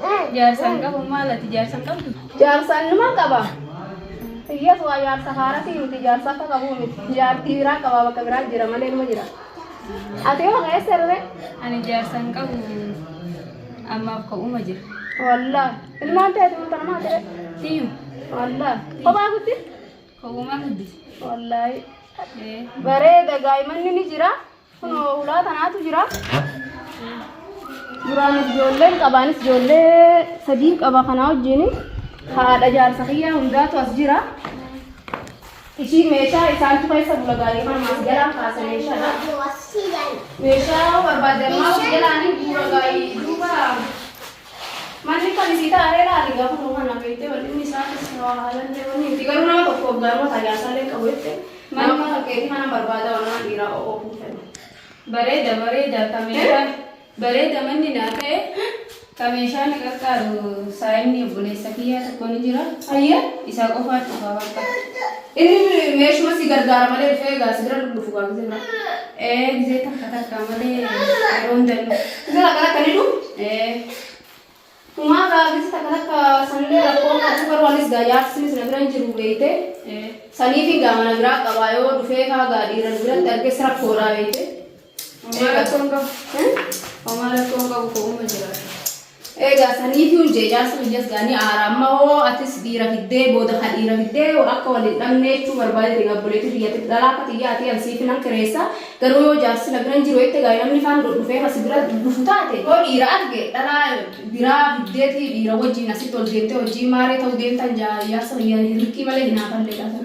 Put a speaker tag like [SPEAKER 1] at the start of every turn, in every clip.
[SPEAKER 1] Jaarsaan qabu
[SPEAKER 2] maal ati jaarsaan qabdu? Jaarsaan numa qaba.
[SPEAKER 1] Iyyees waa jaarsa haaratii miti jaarsa akka qabu miti. Jaartii biraa qaba bakka biraa jira malee numa jira. Ati yoo keessa irree Ani jaarsaan
[SPEAKER 2] qabu ammaaf ka'uma jira. wallah
[SPEAKER 1] ilmaan ta'etu murta namaa ta'e Tiyu
[SPEAKER 2] wallah
[SPEAKER 1] kophaa guddis ka'umaa
[SPEAKER 2] guddise. wallahi
[SPEAKER 1] Ee. bareeda gaa'imanni ni jira. Kunoo ulaa tanaatu jira. Duraan ijoolleen qabaanis ijoollee sadii qaba kanaa wajjin haadha jaarsa kiyyaa hundaatu as jira. Ishii meeshaa isaantu keessa bula gaarii kana maas jalaa kaasa meeshaadha. Meeshaa barbaadammaa of jalaanii bu'uura gaarii duuba Manni kan isii ta'a ree laali gaafa nuu kana beektee bal'inni isaatis waa haalallee wanni miti garuu nama tokko waggaanuma ta'a jaarsallee qabu jettee nama mana kan keetii kana barbaada waan nama dhiiraa o'oo kun fedhu. Bareeda
[SPEAKER 2] bareeda ka meeshaa bareeda manni naa ta'e ka meeshaa na qaqqaaru saayinni obboleessa kiyyaa tokko ni jira Ayyee. isaa
[SPEAKER 1] qofaan dhufa
[SPEAKER 2] bakka. Inni
[SPEAKER 1] meeshuma si gargaara malee dhufee egaa si bira dhufu gaa gizee bira. Ee gizee takka
[SPEAKER 2] takka malee yeroo hunda hin dhufu. Gizee takka takka ni dhufu.
[SPEAKER 1] Ee. Kumaa gaa gizee takka takka sanillee rakkoo qabu garuu anis gaa yaadsinis na bira hin jiru beeyte. Ee. Saniif gaa mana biraa qabaa yoo dhufee kaa gaa dhiiran biratti arges rakkoodhaa beeyte. Homaa rakkoon qabu.
[SPEAKER 2] Homaa rakkoon qabu ko'uma jiraata. Egaa
[SPEAKER 1] saniitu jeejaarsa biyyaas gaanii aara amma hoo atis dhiira fiddee booda ka dhiira fiddee akka waliin dhabnee jechuu barbaade dhiga obboleetii biyyatti dhalaa akka xiyyaa ati an siif nan kireessa garuu yoo jaarsi na biran jiru jette gaa'e namni kaan dhufee kasi bira dhufu taate yoo dhiira arge dhalaa biraa fiddeeti dhiira wajjiin asitti ol deemtee hojii maaree ta'uu deemtan jaarsa biyyaan hirrikii malee hinaafalle dhaafan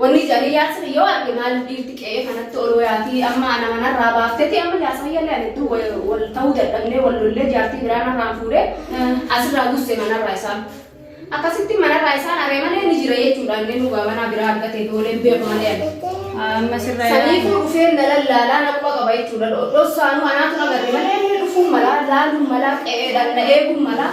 [SPEAKER 1] Wonni jarii yaasir yoo arge maaliif dhiirti qe'ee kanatti ol woyaatii amma ana manarraa baafteti amma jaarsa kiyyallee ani hedduu wal- wal ta'uu dadhabnee wal lollee jaartii biraa narraan fuudhee asirraa gusse manarraa isaan. Akkasitti manarraa isaan aree malee ni jira jechuudha inni dhugaa manaa biraa argatee boolee hin beeku malee ani. Amma sirraa
[SPEAKER 2] Saniifuu dhufeen na
[SPEAKER 1] lallaalaa na quba qaba jechuudha. Dhossaanuu anaatu na garri malee inni dhufuun malaa laaluun malaa qe'eedhaan na eeguun malaa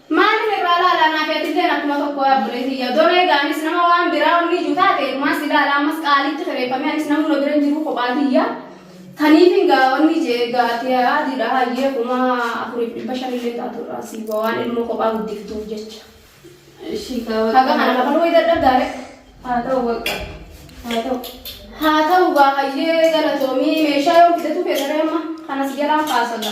[SPEAKER 2] Maalif
[SPEAKER 1] irraa laala anaafi atilleen akkuma tokko yaa obbolee tiyya odoo reega anis nama waan biraa wanni iju taate irumaa si laala ammas qaaliitti kireefame anis namuu na bira hin jiruu kophaa tiyya taniifin gaa wanni jee gaa ati adiidha hayyee kuma afuriif dhibba shanillee taatu irraa sii bu'a waan ilmoo kophaa guddiftuuf jecha Ishii kaa haga kana waqaa. kafaluu way dadhabdaare Haa ta'u waqa. Haa ta'u. haa ta'u gaa hayyee galatoomii meeshaa yoo fidatu keessaree amma kanas jalaan kaasaga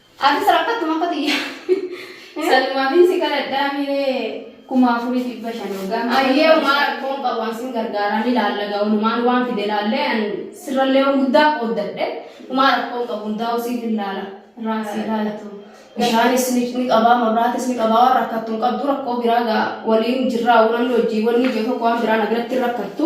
[SPEAKER 2] Ati
[SPEAKER 1] sarakkattu maka tiyya. Salmaafin
[SPEAKER 2] si kadhadhaa miiree kuma afurii dhibba shan hoggaa. Ayyee umaa rakkoon
[SPEAKER 1] qabu an sin gargaaraan ilaalla gaa olumaan waan fide ilaallee an sirrallee waan guddaa qooddadhe umaa rakkoon qabu hundaa usiif ilaala irraan si ilaalatu. Bishaanis ni ni qabaa mabraatis ni qabaa waan rakkattu hin qabdu rakkoo biraa gaa waliin jirraa waan hojii wanni ijoo tokko waan biraa na biratti hin rakkattu